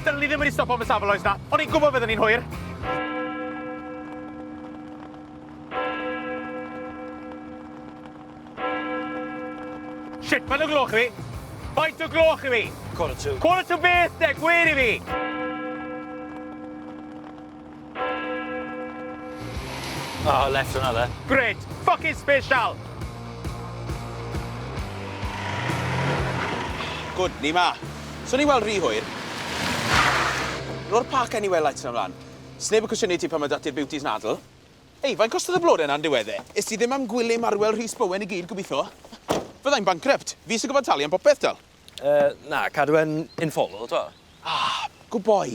Dylwn i ddim wedi stopo fy safle oes na, o'n i'n gwybod fydden ni'n hwyr. Shit, mae'n y gloch i fi. Faint o gloch i fi? Quarter to. Quarter to beth de, gwir i fi. Oh, left hwnna dde. Great! Fucking special! Good, ni ma. So ni weld rhy hwyr. Ro'r park anywhere lights yn ymlaen. Sneb yn cwestiynu ti pan mae dati'r beauties nadl. Ei, fain costodd y blode yna'n diwedd e? Is ti ddim am gwylio marwel Rhys Bowen i gyd, gobitho? Fyddai'n bankrupt. Fi sy'n gofod talu am popeth, dal. Uh, na, cadw e'n informal, to. Ah, good boy.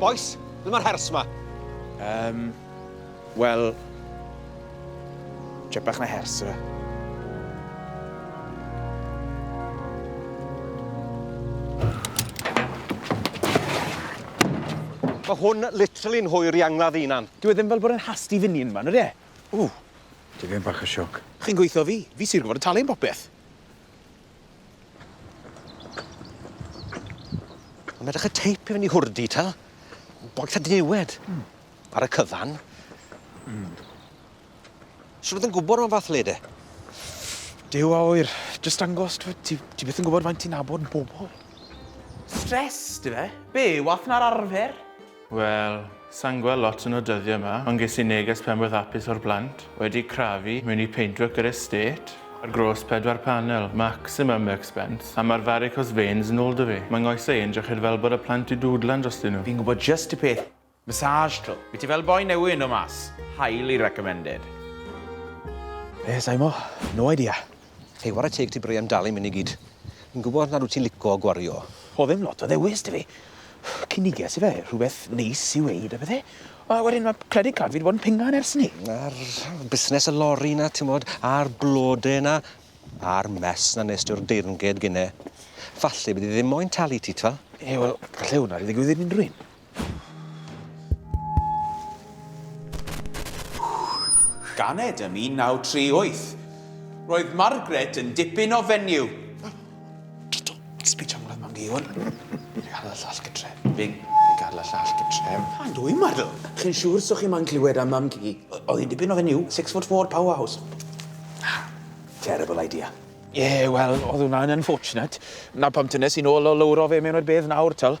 Bois, ble mae'r hers ma? Yym, wel... Jet bach na hers, yw e? Mae hwn literally'n hwyr i angladd unan. Dwi e ddim fel bod yn hasti fyny yn fan, ydy e? Ww. Dwi ddim bach o sioc. Chi'n gweithio fi. Fi sy'n gwybod y talu am popeth. Mae'n edrych y teip i fyny hwrdi, ta? Boeth a diniwed. Mm. Ar y cyfan. Mm. Swn oedd yn gwybod o'n fath le de? Dew a oer, jyst dangos, ti, ti, ti beth yn gwybod faint ti'n nabod yn bobl. Stres, di fe? Be, wath na'r arfer? Wel, sa'n gweld lot yn y dyddie 'ma, ond ges i neges penblwydd hapus o'r plant, wedi crafu mewn i Paintwork yr Estate, ar gross pedwar panel, maximum expense, a ma'r varicose veins yn ôl 'da fi. Ma' nghoesau i'n dryched fel bod y plant 'di dwdlan drostyn nhw. Fi'n gwybod jyst y peth, massage tro. Wyt ti fel boi newydd yn dod mas? Highly recommended. Be, saimo. No idea. Hei, ware teg ti Brian, dal i'm myn i gyd. Fi'n gwybod nad wyt ti'n lico gwario. Oedd ddim lot o ddewis da fi. Cyniges i fe, rhywbeth neis i weud a pethau. A wedyn mae credit card fi wedi bod yn pingan ers hynny. A'r busnes y lori na, timod, a'r blode na, a'r mess na nes ti'r deyrnged gynne. Falle bydd hi ddim moyn talu ti, t'wel? Ie, wel, falle wnâi ddigwydd i unrhyw un. Ganed ym 1938. Roedd Margaret yn dipyn o fenyw. Jojo, sbï am gwlad mam di Iwan. Fe gael y llall gytre. Fe, fe gael y llall gytre. Pan dwi marw. Chi'n siŵr so chi moyn clywed am mam ci? Oedd hi'n dipyn o fenyw, six foot four, powerhouse. Ah, terrible idea. Ie, yeah, wel, oedd hwnna'n unfortunate. Na pam tynes i nôl o lowro fe mewn i'r bedd nawr, twel.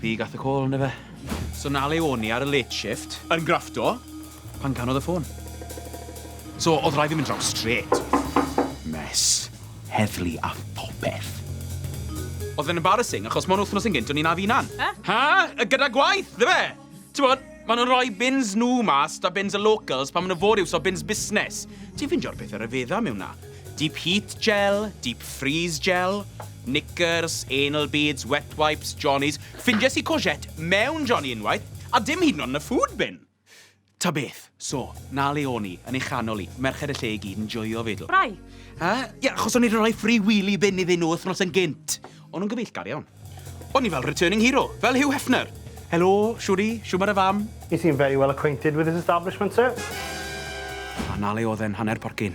Fi gath y call on' yfe? So 'na le o'n i ar y late shift, yn grafto, pan canodd y ffôn. So o'dd rhaid fi mynd draw strêt. Mess. Heddlu a phopeth. O'dd e'n embarrassing achos mon wthnos yn gynt o'n i 'na fy 'unan. He? Ha? Gyda gwaith, dyfe? T'mod, ma' nhw'n rhoi bins nhw mas 'da bins y locals pan ma' nhw fod i iwso bins busnes. Ti'n ffeindio'r pethe ryfedda mewn 'na. Deep heat gel, deep freeze gel, knickers, anal beads, wet wipes, johnnies. Ffindies i courgette mewn johnnie unwaith, a dim hyd yn o'd yn y food bin. Ta beth. So, 'na le o'n i, yn ei chanol 'i, merched y lle i gyd yn joio fe, do. Rai. Ha? Ie, achos o'n i 'di rhoi free wheelie bin iddyn nhw wythnos yn gynt. O'n nhw'n gyfeillgar iawn. O'n i fel returning hero, fel Hugh Hefner! Helo, Shwri, shwmae dy fam? You seem very well acquainted with this establishment, sir. A 'na le o'dd e'n hanner porcyn.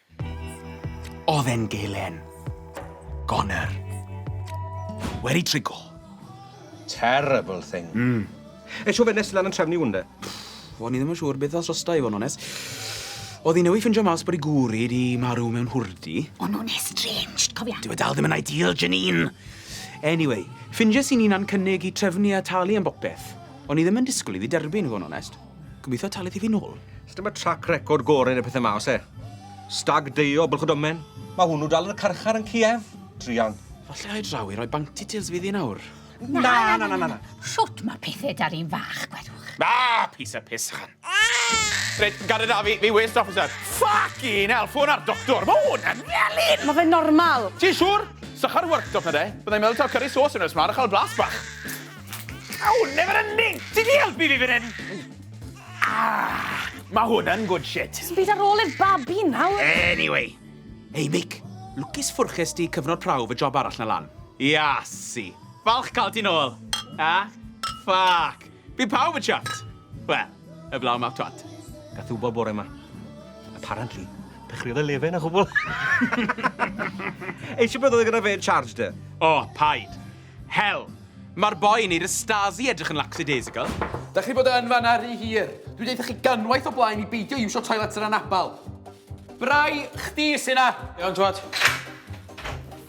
Oedd e'n gelen. Goner. Weri trigo. Terrible thing. Mm. E siw fe nes lan yn trefnu wwnde. O'n i ddim yn siŵr beth os rosta i fo'n ones. Oedd hi newy ffindio mas bod i gwri di marw mewn hwrdi. O'n o'n estranged, cofia. Dwi dal ddim yn ideal, Janine. Anyway, ffindio sy'n un a'n cynnig i trefnu a talu am bopeth. O'n i ddim yn disgwyl iddi derbyn, fo'n onest. Gobeithio talu ti fi nôl. Os dyma trac record gorau neu pethau ma, os e? Stag deio, bylch o domen. Mae hwnnw dal yn y carchar yn Kiev. Drian. Falle ai draw i roi bounty tales fi ddi nawr. Na, na, na, na, na. na. Shwt mae pethau dar un fach, gwedwch? Na, pys a pys, chan. Reit, gared da fi, fi waste officer. Fucking hell, ffôn ar doctor. Mae hwn yn felyn. Mae fe normal. Ti'n siŵr? Sychar workshop na de. Byddai'n meddwl taw curry sauce yn ysmlaen a chael blas bach. Aw, never ending! Ti di helpu fi fan hyn! Ah, mae hwn yn good shit. Ti'n byd ar ôl i'r babi nawr? Anyway. Hei, Mick. Lwcus ffwrches di cyfnod prawf y job arall na lan. Iasi. Falch cael ti'n ôl. A? Ffac. Fi pawb y chat. Wel, y blaw mawr twat. Gath wybod bore yma. Apparently, dechreuodd y lefen a chwbl. Eisiau beth oedd e gyda fe yn charge dy? O, paid. Hel! Mae'r boi yn neud y Stasi edrych yn lackadaisical. Dach chi bod yn fanna rhy hir. Dwi deutha chi ganwaith o blaen i beidio iwsio toilets yn anabal. Brai, chdi sy'n na. Iawn, twat.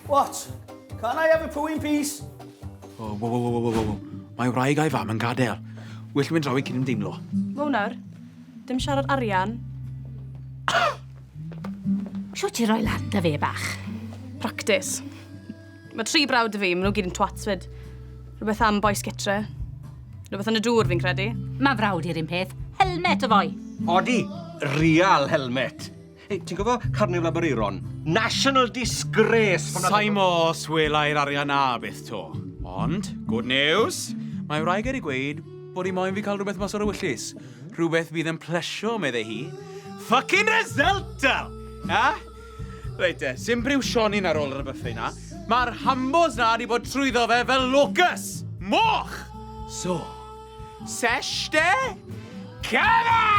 What? Can I have a poo in peace? Oh, wow, wow, wow, wow, wow. Mae wraig a'i fam yn gadael. Well mynd draw i cyn ymdeimlo. Wow nawr, dim siarad arian. Siwt ti roi lan da fe bach. Practis. Mae tri brawd y fi, maen nhw gyd yn twats fyd. Rhywbeth am boes gytre. Rhywbeth yn y dŵr fi'n credu. Mae frawd i'r un peth. Helmet y fwy. Odi, real helmet. Hey, ti'n gofio Carnival Aberaeron? National disgrace! Saimo os welai'r arian na beth to. Ond, good news, mae wraig ar ei gweud bod hi moyn fi cael rhywbeth mas o'r ewyllus. Rhywbeth fydd yn plesio, meddai hi. Fucking resultal! Ha? Reit de, sy'n briw Sionin ar ôl yr byffri na. Mae'r hambos na wedi bod trwyddo fe fel locus! Moch! So, sesh de? Cana!